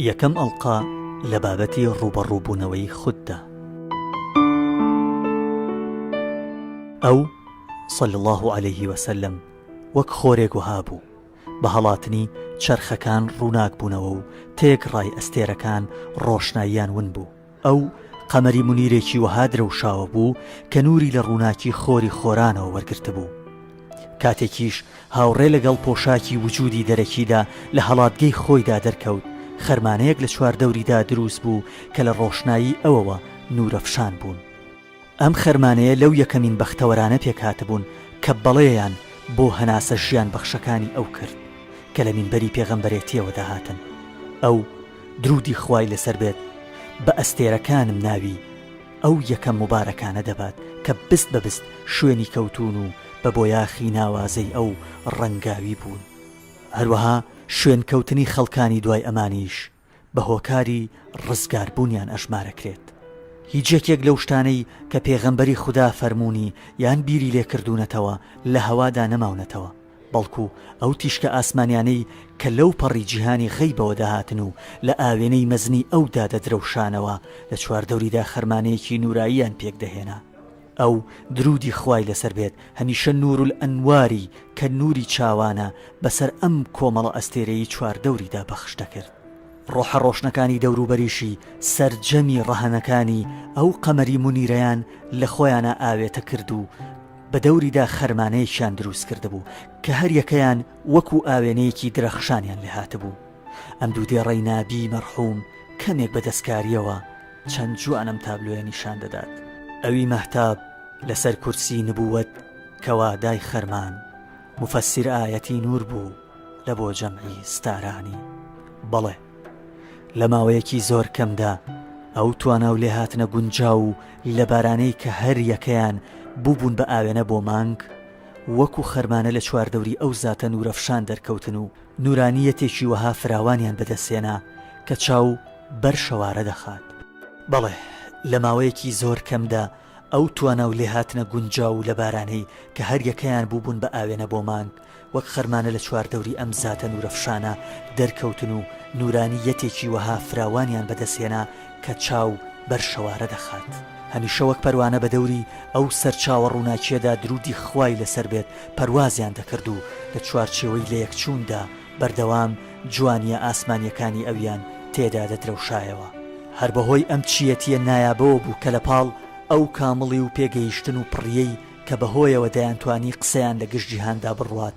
یەکەم ئەڵقە لە بابەتی ڕووبەڕووبوونەوەی خوددا ئەو صلی الله عليه وسلم وەک خۆرێک وەها بوو بە هەڵاتنی چەرخەکان ڕووناک بوونەوە و تێکڕای ئەستێرەکان ڕۆشناییان ون بوو ئەو، قەمەری مونیرێکی وەها درەوشاوە بوو کە نووری لە ڕووناکی خۆری خۆرانەوە وەرگرتبوو. کاتێکیش هاوڕێ لەگەڵ پۆشاکی وجودی دەرەکیدا لە هەڵاتگەی خۆیدا دەرکەوت، خەرمانەیەک لە چواردەوریدا دروست بوو کە لە ڕۆشنایی ئەوەوە نوورەفشان بوون. ئەم خەرمانەیە لەو یەکەمین بەختەوەرانە پێکهاتبوون کە بەڵێیان بۆ هەناسە ژیانبەخشەکانی ئەو کرد کە لە مینبەری پێغەمبەرێتییەوە دەهاتن. ئەو، دروودی خوای لەسەر بێت، بە ئەستێرەکانم ناوی ئەو یەکە موبارەکانە دەبات کە بست بە بست شوێنی کەوتوون و بە بۆیاخی ناوازەی ئەو ڕەنگاوی بوون. هەروەها شوێنکەوتنی خەڵکانی دوای ئەمانیش. بە هۆکاری ڕزگار بوونیان ئەژمارەکرێت هیچ یەکێک لەو شتانەی کە پێغەمبەری خودا فەرموونی یان بیری لێ کردوونەتەوە لە هەوادا نەماونەتەوە بەڵکو ئەو تیشکە ئاسمانیانەی کە لەو پەڕی جیهانی غەیبەوە دەهاتن و لە ئاوێنەی مەزنی ئەودا دەدرەوشانەوە لە چواردەوریدا خەرمانەیەکی نوراییان پێک دەهێنا. ئەو، دروودی خوای لەسەر بێت، هەمیشە نوورولئەنواری کە نووری چاوانە بەسەر ئەم کۆمەڵە ئەستێرەی چواردەوریدا پەخش دەکرد. ڕۆحە ڕۆشنەکانی دەوروبەریشی سەرجەمی ڕەهەنەکانی ئەو قەمەری مونیرەیان لە خۆیانا ئاوێتە کرد و بە دەوریدا خەرمانەیەکیان درووست کردبوو کە هەر یەکەیان وەکوو ئاوێنەیەکی درەخشانیان لێ هاتبوو. ئەم دوو دێڕەی نابی مەرحووم کەمێک بە دەستکارییەوە، چەند جوان ئەم تابلۆیە نیشان دەدات. ئەوی مەهتاب لەسەر کورسی نبووەت کەوا دای خەرمان موفەسیر ئایەتی نوور بوو لە بۆ جەمعی ستارانی. بەڵێ. لە ماوەیەکی زۆر کەمدا ئەو توانا و لێهاتنە گونجاو و لەبارانەی کە هەر یەکەیان بووبوون بە ئاوێنە بۆ مانگ وەکوو خەرمانە لە چواردەوری ئەو زاتە نوورەفشان دەرکەوتن و نورانییەتێکی وەها فراوانیان بەدەستهێنا کە چاو بەر شەوارە دەخات. بەڵێ، لە ماوەیەکی زۆر کەمدا ئەو توانا و لێهاتنە گونجاو و لەبارانەی کە هەر یەکەیان بووبوون بە ئاوێنە بۆ مانگ، وەک خەرمانە لە چواردەوری ئەم زاتە نورەفشانە دەرکەوتن و نورانییەتێکی وەها فراوانیان بەدەستهێنا کە چاو بەر شەوارە دەخات هەمیشە وەک پەروانە بە دەوری ئەو سەرچاوە ڕووناکییەدا دروودی خوای لەسەر بێت پەروازیان دەکرد و لە چوارچێوەی لەیەکچووندا بەردەوام جوانییە ئاسمانییەکانی ئەویان تێدا دەدرەوشایەوە. هەر بەهۆی ئەم چییەتییە نایابەوە بوو کە لەپاڵ ئەو کامڵی و پێگەیشتن و پڕییەی کە بەهۆیەوە دەیانتوانی قسەیان لە گشت جیهاندا بڕوات،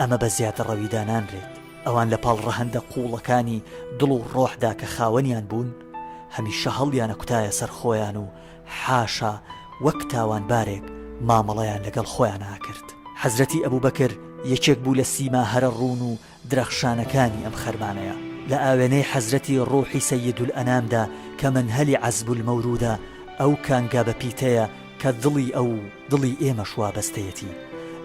ئەمە بە زیادەڕەوی دانانرێت، ئەوان لە پاڵ ڕەهەندە قووڵەکانی دڵ و ڕۆحدا کە خاوەنیان بوون، هەمیشە هەڵیانەکوتایە سەر خۆیان و حاشا وەک تاوانبارێک مامەڵەیان لەگەڵ خۆیان ئاکرد. حەزرەتی ئەبوبەکر یەکێک بوو لە سیما هەرە ڕوون و درەخشانەکانی ئەم خەرمانەیە. لە ئاوێنەی حەزرەتی ڕوحی سەییدولئەنامدا کە مەنهەلی عەزبولمەورودە، ئەو کانگا بە پیتەیە کە دڵی ئەو و دڵی ئێمەش وابەستەیەتی،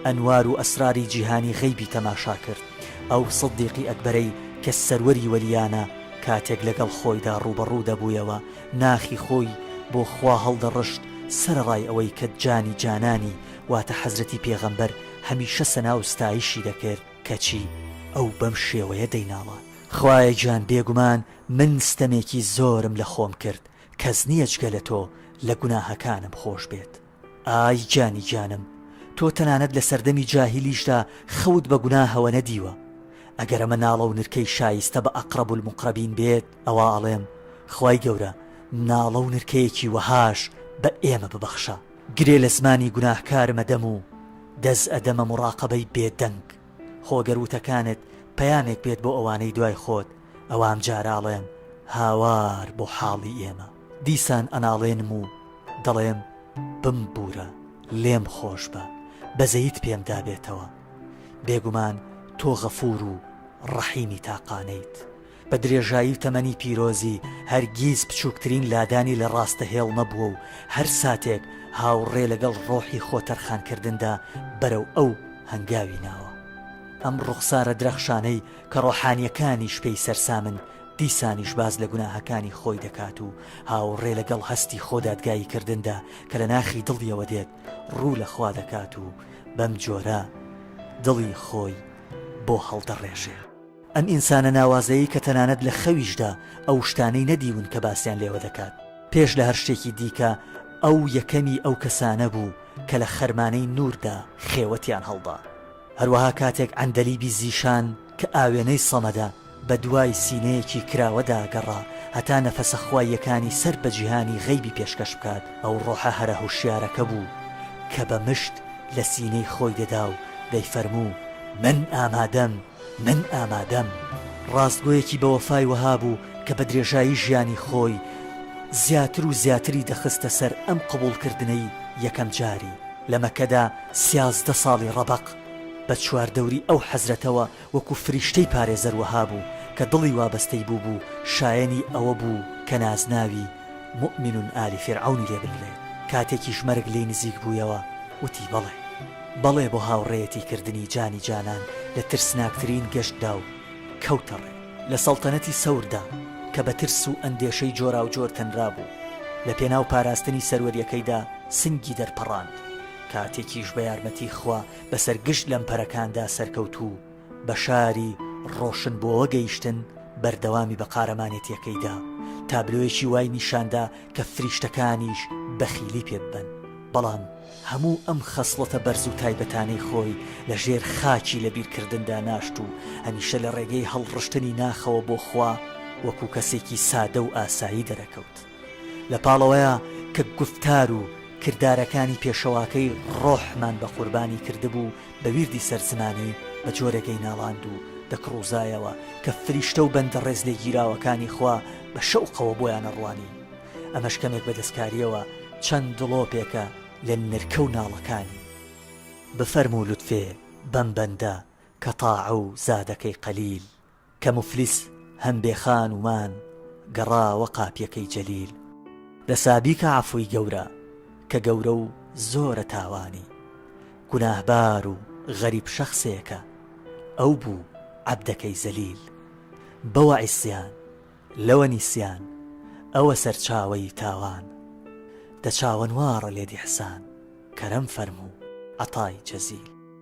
ئەنوار و ئەسراری جیهانی غەیبی تەماشا کرد، ئەو سدیقی ئەکبەرەی کە سەروەری وەلیانە کاتێک لەگەڵ خۆیدا ڕووبەڕوو دەبوویەوە ناخی خۆی بۆ خوا هەڵدەڕشت سەرەڕای ئەوەی کە جانی جانانی واتە حەزرەتی پێغەمبەر هەمیشە سەنا و ستایشی دەکرد کەچی ئەو بەم شێوەیە دەیناڵا خوایە گیان بێگومان من ستەمێکی زۆرم لە خۆم کرد کەس نیە جگە لە تۆ لە گوناهەکانم خۆش بێت ئای گیانی گیانم تۆ تەنانەت لە سەردەمی جاهیلیشدا خەوت بە گوناهەوە نەدیوە ئەگەر ئەمە ناڵە و نرکەی شایستە بە اقرب المقربین بێت ئەوا ئەڵێم خوای گەورە ناڵە و نرکەیەکی وەهاش بە ئێمە ببەخشە گرێ لە زمانی گوناهکارم ئەدەم و دەس ئەدەمە مڕاقەبەی بێدەنگ خۆ گەر وتەکانت پەیامێک بێت بۆ ئەوانەی دوای خۆت ئەوا ئەمجارە ئەڵێم هاوار بۆ حاڵی ئێمە دیسان ئەناڵێنم و دەڵێم بمبوورە، لێم خۆشبە، بەزەیت پێم دابێتەوە. بێگومان تۆ غەفوور و ڕەحیمی تاقانەیت. بە درێژایی تەمەنی پیرۆزی هەرگیز بچووکترین لادانی لە ڕاستەهێڵ نەبووە و هەر ساتێک هاوڕێ لەگەڵ ڕۆحی خۆ تەرخانکردندا بەرەو ئەو هەنگاوی ناوە. ئەم ڕوخسارە درەخشانەی کە ڕۆحانییەکانیش پێی سەرسامن، دیسانیش باس لە گوناهەکانی خۆی دەکات و هاوڕێ لەگەڵ هەستی خۆدادگاییکردندا کە لە ناخی دڵیەوە دێت، ڕوو لە خوا دەکات و بەم جۆرە دڵی خۆی بۆ هەڵدەڕێژێ. ئەم ئینسانە ناوازەیەی کە تەنانەت لە خەویشدا ئەو شتانەی نەدیون کە باسیان لێوە دەکات. پێش لە هەر شتێکی دیکە ئەو یەکەمی ئەو کەسانە بوو کە لە خەرمانەی نووردا خێوەتیان هەڵدا. هەروەها کاتێک عەندەلیبی زیشان کە ئاوێنەی سەمەدە، بەدوای سینەیەکی کراوەدا گەڕا هەتا نەفەسە خواییەکانی سەر بە جیهانی غەیبی پێشکەش بکات، ئەو ڕۆحە هەرە هوشیارەکە بوو کە بە مشت لە سینەی خۆی دەدا و دەیفەرموو، من ئامادەم، من ئامادەم. ڕاستگۆیەکی بەوەفای وەها بوو کە بە درێژایی ژیانی خۆی زیاتر و زیاتری دەخستە سەر ئەم قبووڵکردنەی یەکەم جاری. لە مەککەدا، سیازدە ساڵی ڕەبەق بە چواردەوری ئەو حەزرەتەوە وەکو فریشتەی پارێزەر وەها بوو کە دڵی وابەستەی بووبوو شایەنی ئەوە بوو کە نازناوی، موئمن آل فرعون، ی لێ بنرێ. کاتێکیش مەرگ لێی نزیک بوویەوە وتی بەڵێ. بەڵێ بۆ هاوڕێیەتی کردنی جانی جانان لە ترسناکترین گەشتدا و کەوتە ڕێ. لە سەڵتەنەتی سەوردا کە بە ترس و ئەندێشەی جۆراوجۆر تەنرابوو، لە پێناو پاراستنی سەروەریەکەیدا سنگی دەرپەڕاند. کاتێکیش بە یارمەتی خوا بەسەر گشت لەمپەرەکاندا سەرکەوتوو و بە شاری ڕۆشنبۆوە گەیشتن، بەردەوامی بە قارەمانێتییەکەی دا. تابلۆیەکی وای نیشان دا کە فریشتەکانیش بەخیلی پێ ببەن. بەڵام هەموو ئەم خەسڵەتە بەرز و تایبەتانەی خۆی لە ژێر خاکی لەبیرکردندا ناشت و هەمیشە لە ڕێگەی هەڵڕشتنی ناخەوە بۆ خوا وەکوو کەسێکی سادە و ئاسایی دەرەکەوت. لە پاڵەوەیە کە گوفتار و کردارەکانی پێشەواکەی ڕۆحمان بە قوربانی کردبوو بە ویردی سەر زمانی بە جۆرێکەی ناڵاند و دەکڕوزایەوە کە فریشتە و بەندە ڕێزلێگیراوەکانی خوا بە شەوقەوە بۆیان ئەڕوانی ئەمەش کەمێک بە دەستکاریەوە چەند دڵۆپێکە لە نرکە و ناڵەکانی. بفەرموو لوتفێ بەم بەندە کە تاعە و زادەکەی قەلیل. کە موفلیس هەن بێ خان و مان گەڕاوە قاپیەکەی جەلیل. دەسا بیکە عەفوی گەورە کە گەورە و زۆرە تاوانی گوناهبار و غەریب شەخسێکە ئەو بوو عەبدەکەی زەلیل بەوە عیسیان لەوە نیسیان ئەوە سەرچاوەی تاوان دە چاوەنواڕە لێد ئیحسان کەرەم فەرموو عەتای جەزیل.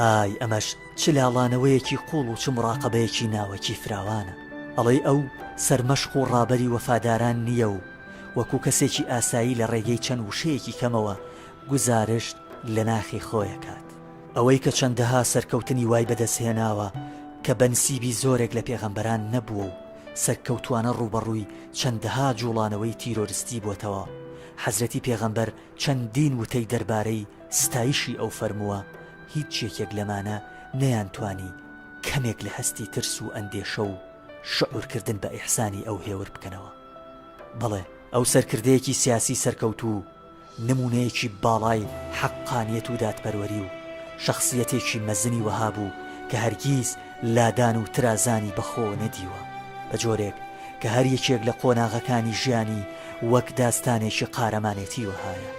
ئای ئەمەش چ لاڵانەوەیەکی قوڵ و چ مڕاقەبەیەکی ناوەکی فراوانە. ئەڵێی ئەو سەرمەشق و ڕابەری وەفاداران نییە و وەکو کەسێکی ئاسایی لە ڕێگەی چەند وشەیەکی کەمەوە گوزارشت لە ناخی خۆی ئەکات. ئەوەی کە چەندەها سەرکەوتنی وای بەدەست هێناوە کە بەنسیبی زۆرێک لە پێغەمبەران نەبووە و سەرکەوتوانە ڕووبەڕووی چەندەها جوڵانەوەی تیرۆرستی بۆتەوە، حەزرەتی پێغەمبەر چەندین وتەی دەربارەی ستایشی ئەو فەرمووە، هیچ یەکێک لەمانە نەیانتوانی کەمێک لە هەستی ترس و ئەندێشە و شعورکردن بە ئیحسانی ئەو هێور بکەنەوە. بەڵێ، ئەو سەرکردەیەکی سیاسی سەرکەوتوو و نموونەیەکی باڵای حەققانیەت و دادپەروەری و شەخسیەتێکی مەزنی وەها بوو کە هەرگیز لادان و ترازانی بە خۆ نەدیوە، بە جۆرێک کە هەر یەکێک لە قۆناغەکانی ژیانی وەک داستانێکی قارەمانێتی وەهایە.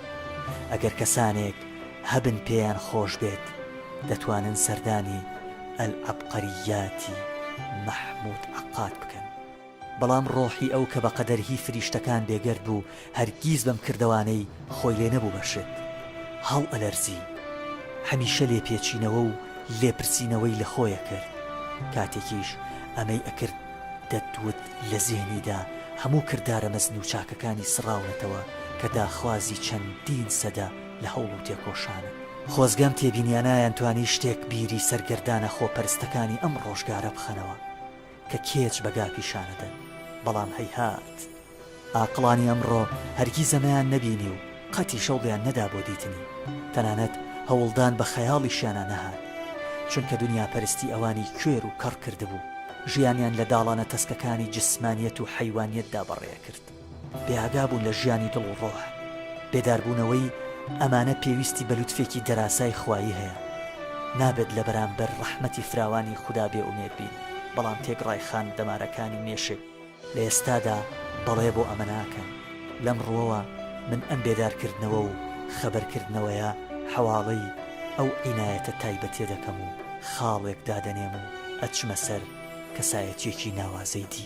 ئەگەر کەسانێک هەبن پێیان خۆش بێت، دەتوانن سەردانی، العبقریاتی محمود عقاد، بکەن. بەڵام ڕۆحی ئەو کە بە قەدەر هی فریشتەکان بێگەرد بوو هەرگیز بەم کردەوانەی خۆی لێ نەبوو بە شت. هەڵئەلەرزی. هەمیشە لێپێچینەوە و لێپرسینەوەی لە خۆی ئەکرد. کاتێکیش ئەمەی ئەکرد دەتوت لە زێهنیدا هەموو کردارە مەزن و چاکەکانی سڕاونەتەوە کە داخوازی چەندین سەدە لە هەوڵ و تێکۆشانە. خۆزگە ئەم تێبینیانە ئەیانتوانی شتێک بیری سەرگەردانە خۆپەرستەکانی ئەم ڕۆژگارە بخەنەوە. کە کێچ بە گا پیشان ئەدەن، بەڵام هەیهات! ئاقڵانی ئەمڕۆ هەرگیز ئەمەیان نەبینی و قەتیش هەوڵیان نەدا بۆ دیتنی، تەنانەت هەوڵدان بە خەیاڵیشیانا نەهات، چونکە دنیاپەرستی ئەوانی کوێر و کەڕ کردبوو، ژیانیان لە داڵانە تەسکەکانی جسمانیەت و حەیوانیەتدا بەڕێ ئەکرد. بێئاگابوون لە ژیانی دڵ و ڕۆح. بێداربوونەوەی ئەمانە پێویستی بە لوتفێکی دەراسای خوایی هەیە. نابێت لە بەرامبەر ڕەحمەتی فراوانی خودا بێ ئومێد بین، بەڵام تێکڕای خان دەمارەکانی مێشک لە ئێستادا بەڵێ بۆ ئەمە ناکەن. لەم ڕووەوە من ئەم بێدارکردنەوە و خەبەرکردنەوەیە حەواڵەی ئەو عینایەتە تایبەتیە دەکەم و خاڵێک دادەنێم و ئەچمە سەر کەسایەتیەکی ناوازەی دی.